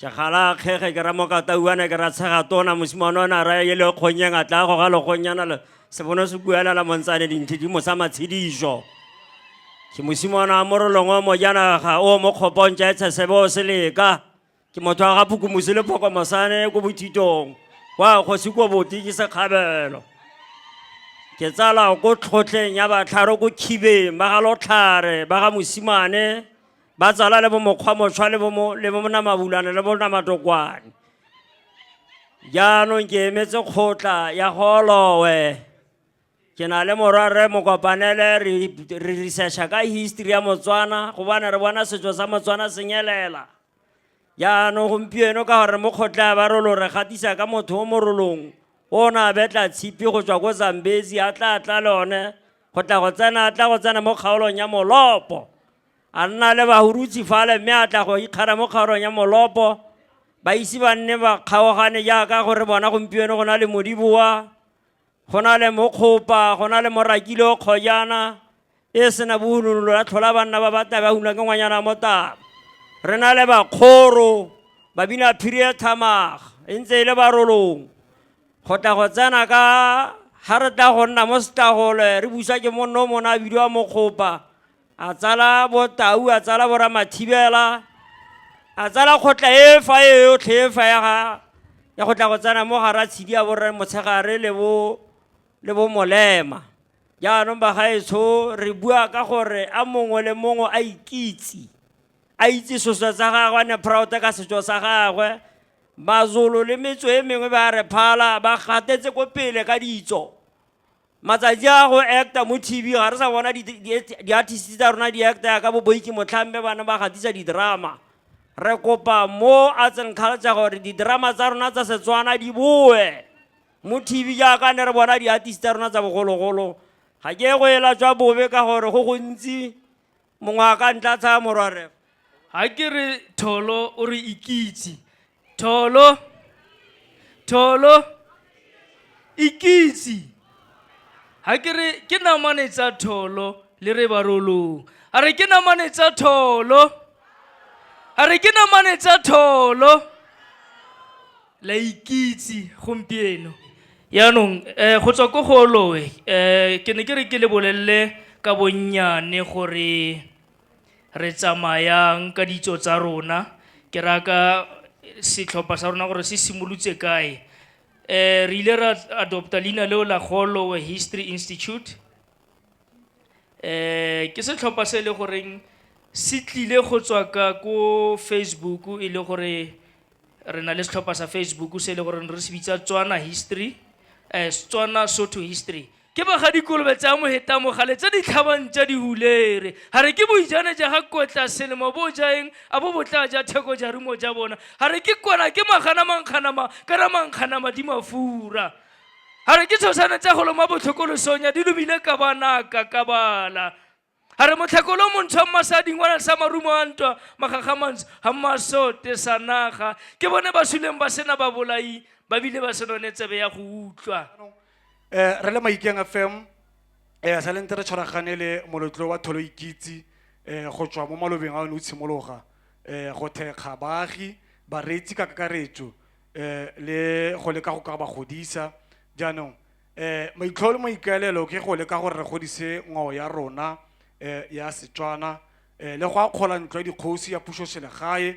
ke gala kgege ke ramokatauane ke ratshega tona mosimane o ne a raya e le kgonnyeng a tla go ga lekgonnyana le sebono se buelela montsane dintlhe di mosa matshediso ke mosimane wa morolong o mojanaga o mo kgopontša e tshesebe o se leka ke motho wa ga phukumose le phokomosane ko bothitong wa kgosi ko boti ke sekgabelo ke tsala ko tlhotlheng ya batlharo ko khibeng ba ga lotlhare ba ga mosimane ba tsala le bo mokgwa motshwa le bo le bo namabulane le bo namatokwane jaanong ke emetse kgotla ya golowe ke na le morwa rre mokopanele re researcha ka history ya motswana gobane re bona setso sa motswana senyelela jaanong gompieno ka gore mo kgotla ba rolo re gatisa ka motho o morolong o na betla tshipi go tswa ko zambezi a tla tla le one go tla go tsena a tla go tsena mo kgaolong ya molopo A nna le bahurutsi fale mme a tla go ikgara mo kgarong ya molopo. Ba ise ba nne ba kgaogane jaaka go re bona gompieno go na le modiboa, go na le mokgopa, go na le morakile o kgojana e sena bohununolo la tlhola banna ba batla ba una ke ngwanyana motaba. Re na le bakgoro, babina phiri e thamaga, e ntse e le barolong. Go tla go tsena ka ga re tla go nna mo setagole re busa ke monno o mona a bidiwa mokgopa a tsala botau a tsala boramathibela a tsala kgotla e fa e yotlhe e fa ya ga ya go tla go tsena mo gara tshedi ya borre motshegare le bo le bo molema jaanong bagaetsho re bua ka gore a mongwe le mongwe a ikitse a itse seswa sa gagwe a ne proud ka setso sa gagwe mazolo le metso e mengwe ba re phala ba gatetse ko pele ka ditso Matsatsi a go acta mo TV ga re sa bona di-artist tsa rona di acta ka boboiki motlhambe bana ba gatisa di-drama re kopa mo arts and culture gore di-drama tsa rona tsa setswana di boe mo TV jaaka ne re bona di-artist tsa rona tsa bogologolo ga ke go ela tswa bobe ka gore go gontsi mongwe a ka ntla tsaya morwaref ga ke re tholo o re ikitse tholo tholo ikitse ga ke re ke namane tsa tholo le re barolong a re ke namane tsa tholo a re ke namane tsa tholo la ikitse gompieno yaanong um go tswa ko go olowe um ke ne ke re ke le bolelele ka bonnyane gore re tsamayang ka ditso tsa rona ke raka setlhopha sa rona gore se simolotse kae um re ile ra adopta leina leo la golowe history institute Eh ke setlhopha se e le goreng se tlile go tswa ka ko Facebook e le gore re na le setlhopha sa Facebook se e le gore re se bitsa Tswana History eh Tswana Sotho History ke ba ga dikolobe tsa mo hetamo gale tse di tlhabang tsa dihulere ga re ke boijane ja ga kotla selemo bo jaeng a bo botla ja theko ja rumo ja bona ga re ke kwana ke magana mankganama kana mankganama di mafura a re ke tshosane tsa golo mo botlhokolosong ya di lobile ka banaka ka bala a re motlhakolo montshwa mmasading wa sa marumo a ntwa magagamantso ga mmasote sa naga ke bone ba suleng ba sena ba bolai ba bile ba se none tsebe ya go utlwa um re le maikeng fm um sa lente re tshwaragane le molotlo wa tholo ikitse um go tswa mo malobeng a o ne o tshimologa um go thekga baagi bareetsi ka kakaretso eh le go leka go ka ba godisa jaanong eh maitlhogo le maikaelelo ke go leka gore re godise ngwao ya rona eh ya setswana eh le go akgola ntlo ya dikgosi ya puso selegae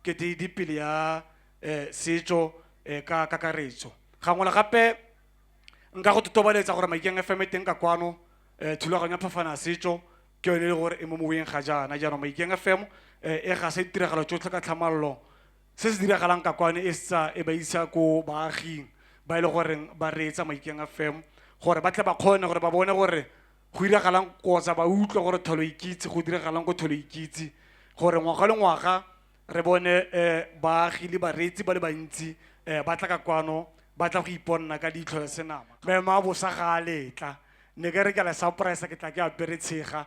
ke di di pele ya eh setso eh ka kakaretso gangwe le gape nka go totobaletsa gore maikeng fm e teng ka kwano eh thulaganyo ya phafana ya setso ke yone e le gore e mo moweng ga jaana jaanong maikeng fm eh e ga se ditiragalo tsotlhe ka tlhamallo se se diragalang ka kwane e setsa e ba isa ko baaging ba e le goreng ba reetsa maikeng a fem gore ba tle ba kgone gore ba bone gore go diragalang kotsa ba utlwe gore tholo ikitse go diragalang ko tholo ikitse gore ngwaga le ngwaga re bone um baagi le bareetsi ba le bantsi um ba tla ka kwano ba tla go iponna ka ditlho le senama mema bosa ga a letla ne ke re ke la surprise ke tla ke apere tshega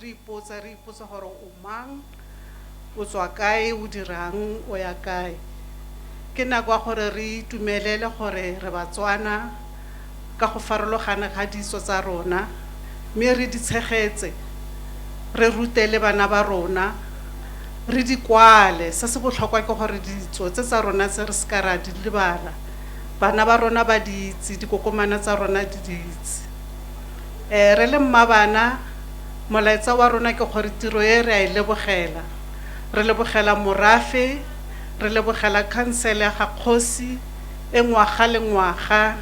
Re ipotsa, re ipotsa gore o mang, o tswa kae, o dirang, o ya kae. Ke nako ya gore re itumelele gore re Batswana ka go farologana ga ditso tsa rona, mme re di tshegetse, re rute le bana ba rona, re di kwale. Se se botlhokwa ke gore ditso tse tsa rona tse re se ka ra di lebala, bana ba rona ba di itse, dikokomana tsa rona di di itse. Ee, re le mmabana, molaetsa wa rona ke gore tiro e re a e lebogela. Re lebogela morafe, re lebogela khansele ya ga kgosi e ngwaga le ngwaga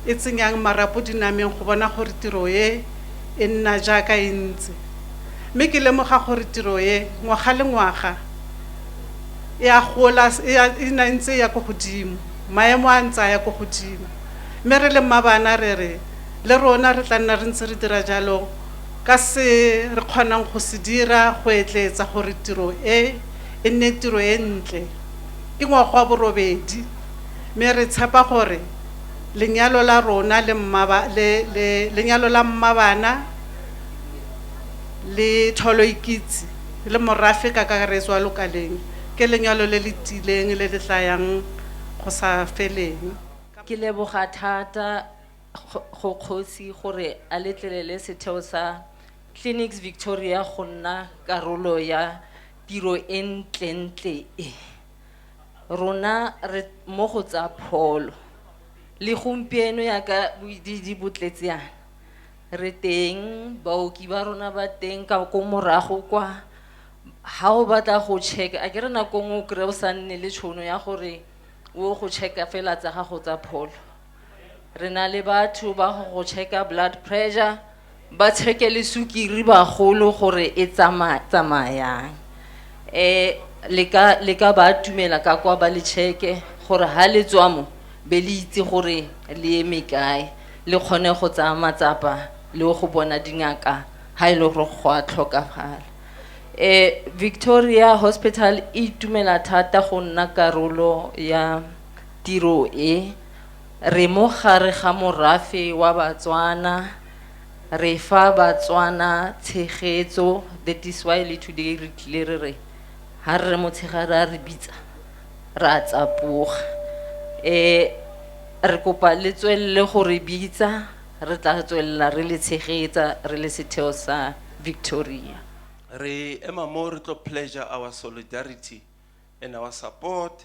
e tsenyang marapo dinameng go bona gore tiro e e nna jaaka e ntse. Mme ke lemoga gore tiro e, ngwaga le ngwaga, e a gola, e a, e nna e ntse e ya ko godimo, maemo a ntse a ya ko godimo. Mme re le mmabana re re, Le rona re tla nna re ntse re dira jalo ka se re kgonang go se dira go etleetsa gore tiro e e nne tiro e ntle. Ke ngwaga wa borobedi, mme re tshepa gore lenyalo la rona le mmaba, le, le, lenyalo la mmabana le Tholoikitse le morafe ka kakaretso wa Lokaleng ke lenyalo le le tiileng le le tla yang go sa feleng. Ke leboga thata. go kgosi gore a letlelele setheo sa Clinics Victoria go nna karolo ya tiro e ntlentle e. Rona re mo go tsa pholo. Le gompieno yaka boidiidi bo tletseana. Re teng, baoki ba rona ba teng ka ko morago kwa. Ha o batla go check, a ke re nako nngwe o kry-e o sa nne le tšhono ya gore o go check-a fela tsa gago tsa pholo. re na le batho ba go go checka blood pressure ba checke le sukiri bagolo gore e tsama- tsamayang um le ka le ka ba atumela ka kwa ba le checke gore ha le tswa mo be le itse gore le eme kae le kgone go tsaya matsapa le go bona dingaka ha e le gore go a tlhokafala eh victoria hospital e itumela thata go nna karolo ya tiro e re mo gare ga morafe wa Batswana re fa Batswana tshegetso that is why le today re tlile re re ha re motshegare a re bitsa ra tsapoga eh re kopa le tswelele go re bitsa re tla tswelela re le tshegetsa re le setheo sa Victoria re ema mo re tlo pleasure our solidarity and our support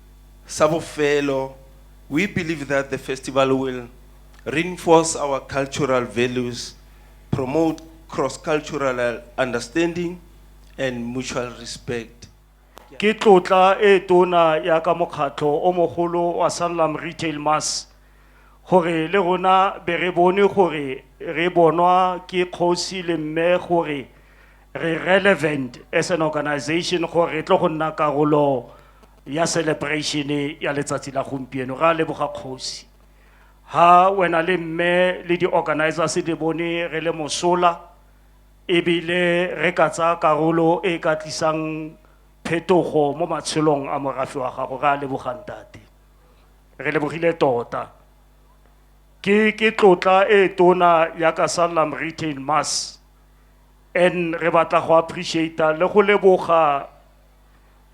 Sa bofelo, we believe that the festival will reinforce our cultural values, promote cross-cultural understanding and mutual respect. Ke tlotla e tona ya ka mokgatlho o mogolo wa Sanlam Retail Mass gore le rona be re bone gore re bonwa ke kgosi le mme gore re relevant as an organization gore re tlo go nna karolo ya celebration ya letsatsi la gompieno ra leboga kgosi ha wena le mme le di-organizers di bone re le mosola ebile re ka tsaya karolo e ka tlisang phetogo mo matshelong a morafe wa gago re a lebogang tate re lebogile tota ke ke tlotla e tona ya ka sallam retail mass and re batla go appreciata le go leboga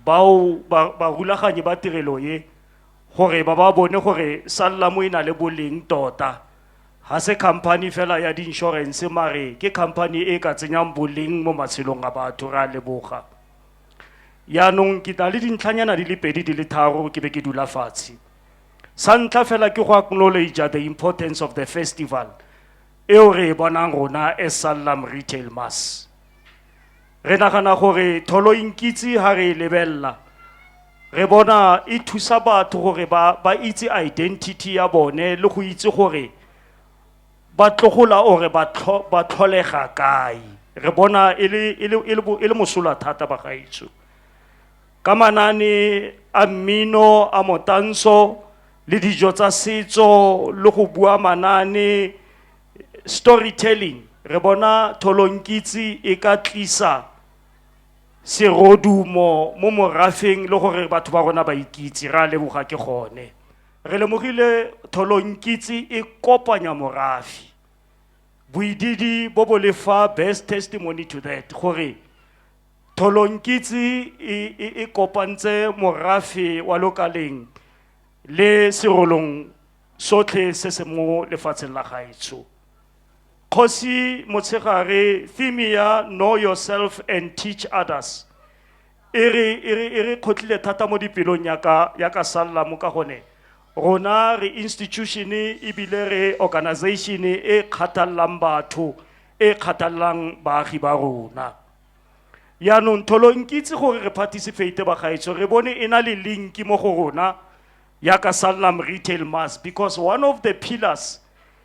bao barulaganyi ba tirelo ye gore ba ba bone gore sallamo e na le boleng tota ga se company fela ya di-insurance mare ke company e ka tsenyang boleng mo matshelong a batho re a leboga yaanong ke na le dintlhanyana di le pedi di le tharo ke be ke dula fatshe sa ntlha fela ke go acknowledge the importance of the festival eo re e bonang rona e Sallam Retail Mass. Re nagana gore tholo inkitse ha re e lebelela re bona e thusa batho gore ba ba itse identity ya bone le go itse gore ba tlogola ore ba tlho- ba tlholega kae re bona e le- e le- e le bo- e le mosola thata bagaetsho ka manaane a mmino a motantsho le dijo tsa setso le go bua manaane storytelling re bona tholonkitse e ka tlisa serodumo mo morafeng le gore batho ba rona ba ikitse re a leboga ke gone re lemogile tholonkitse e kopanya morafi boididi bo bo lefa best testimony to that gore Tholonkitse e, e, e kopantse morafe wa lokaleng le serolong sotlhe se se mo lefatsheng la gaetsho kgosi motshegare theme ya know yourself and teach others e re e re e re kgotlile thata mo dipelong ya ka ya ka salla mo ka gone rona re institution ebile re organization e kgathallang batho e kgathallang baagi ba rona yaanong tholo nkitse gore re participate bagaetsho re bone e na le linki mo go rona yaka sallam retail mass because one of the pillars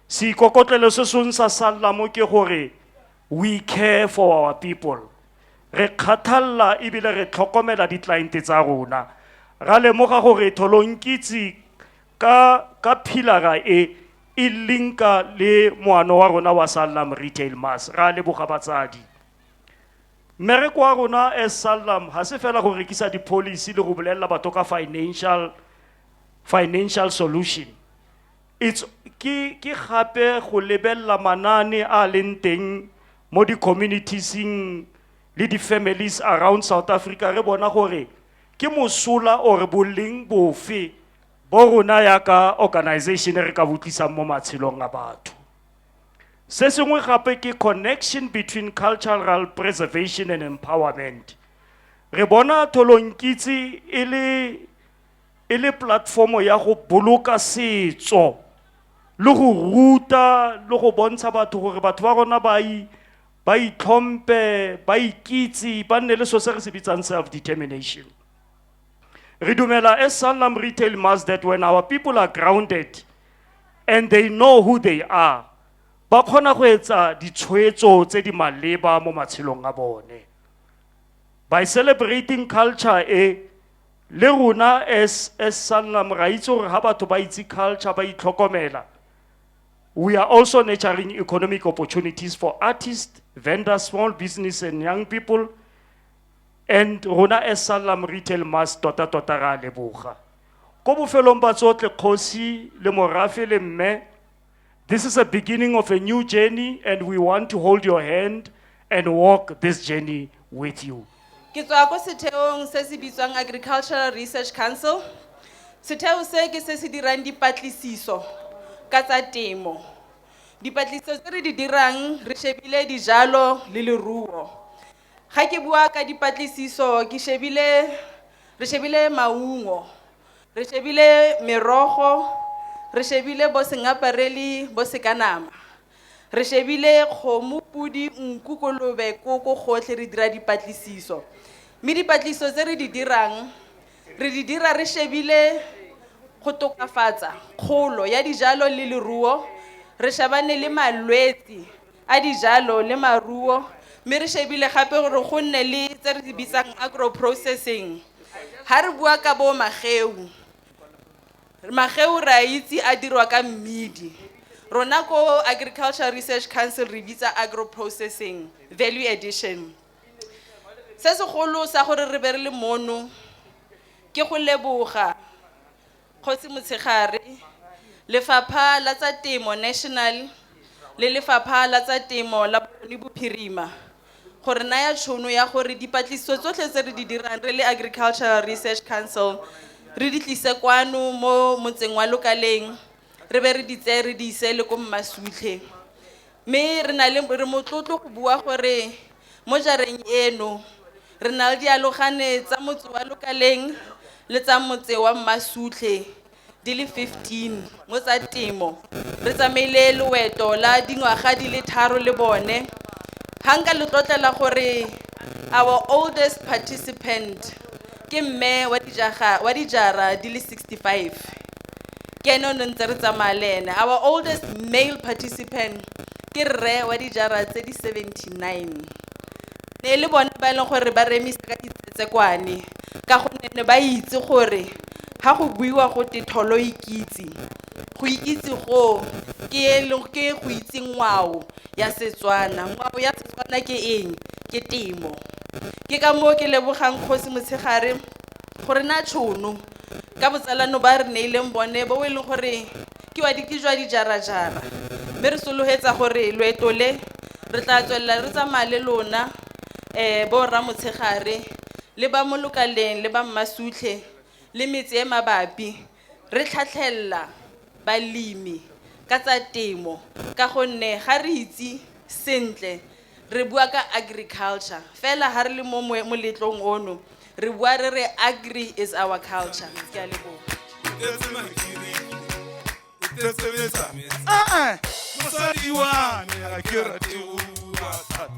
seikokotlelo se song sa sallamo ke gore we care for our people re kgathalela ebile re tlhokomela di-cliente tsa rona ra lemoga gore tholonkitse ka ka philara e e linka le moano wa rona wa sallam retail mass ra leboga batsadi mmereko wa rona as sallam ga se fela go rekisa di-policy le go bolelela batho ka financial financial solution it's ke ke gape go lebelela manane a leng teng mo di-communitiesng le di-families around south africa re bona gore ke mosola or boleng bofe bo rona yaka organization e re ka botlisang mo matshelong a batho se sengwe gape ke connection between cultural preservation and empowerment re bona tholonkitse e le e le platformo ya go boloka setso le go ruta le go bontsha batho gore batho ba rona ba ba itlhompe ba ikitse ba nne le so se re se bitsang self determination Re dumela as Sanlam Retail Mass that when our people are grounded and they know who they are, ba kgona go etsa ditshwetso tse di maleba mo matshelong a bone. By celebrating culture e, le rona as as Sanlam ra itse gore ha batho ba itse culture ba itlhokomela. We are also nurturing economic opportunities for artists, vendors, small business and young people and rona as sallam retail mass tota tota ra leboga ko bofelong ba tsotle kgosi le morafe le mme this is a beginning of a new journey and we want to hold your hand and walk this journey with you ke tswa ko setheong se se bitswang agricultural research council setheo se ke se se dirang dipatlisiso ka tsa temo dipatlisiso tse re di dirang re shebile dijalo le leruo Ga ke bua ka dipatlisiso ke shebile re shebile maungo re shebile merogo re shebile bo sengapareli bo sekanama re shebile kgomo podi nku kolobe koko gotlhe re dira dipatlisiso mme dipatlisiso tse re di dirang re di dira re shebile go tokafatsa kgolo ya dijalo le leruo re shebane le malwetse a dijalo le maruo mme re shebile gape gore go nne le tse re di bitsang agro processing ha re bua ka bo mageu mageu re a itse a dirwa ka mmidi rona ko agricultural research council re bitsa agro processing value addition se segolo sa gore re be re le mono ke go leboga Kgosi Motshegare, Lefapha la tsa Temo National le Lefapha la tsa Temo la Bokone Bophirima go re naya tšhono ya gore dipatlisiso tsotlhe tse re di dirang re le Agricultural Research Council re di tlise kwano mo motseng wa Lokaleng re be re di tseye re di ise le ko Mmasutlhe. Mme re na le re motlotlo go bua gore Mo jareng eno, re na le dialogane tsa motse wa Lokaleng le tsa motse wa Mmasutlhe di le 15 mo tsa temo. Re tsamaile loeto la dingwaga di le tharo le bone. Ga nka le tlotlela gore our oldest participant Ke mme wa dijaga wa dijara di le 65 ke ene o ne ntse re tsamaya le ene. Our oldest male participant ke rre wa dijara tse di 79. Ne e le bone ba e leng gore ba remisa ka ditsetsekwane ka gonne ne ba itse gore ga go buiwa go te tholo ikitse go ikitse goo ke e le ke go itse ngwao ya setswana ngwao ya setswana ke eng ke temo ke ka moo ke lebogang kgosi motshegare gore na tšhono ka botsalano ba re neileng bone bo e leng gore ke wa ke jwa dijarajara mme re sologetsa gore loeto le re tla tswelela re tsamaya le lona um bo rra motshegare le ba molokaleng le ba mmasutlhe le metse e mabapi Re tlhatlhelela balemi ka tsa temo ka gonne ga re itse sentle re bua ka agriculture fela ga re le mo moletlong ono re bua re re agri is our culture. Ke a leboga. Ee, mosadi wa me a ke rate o bua thata.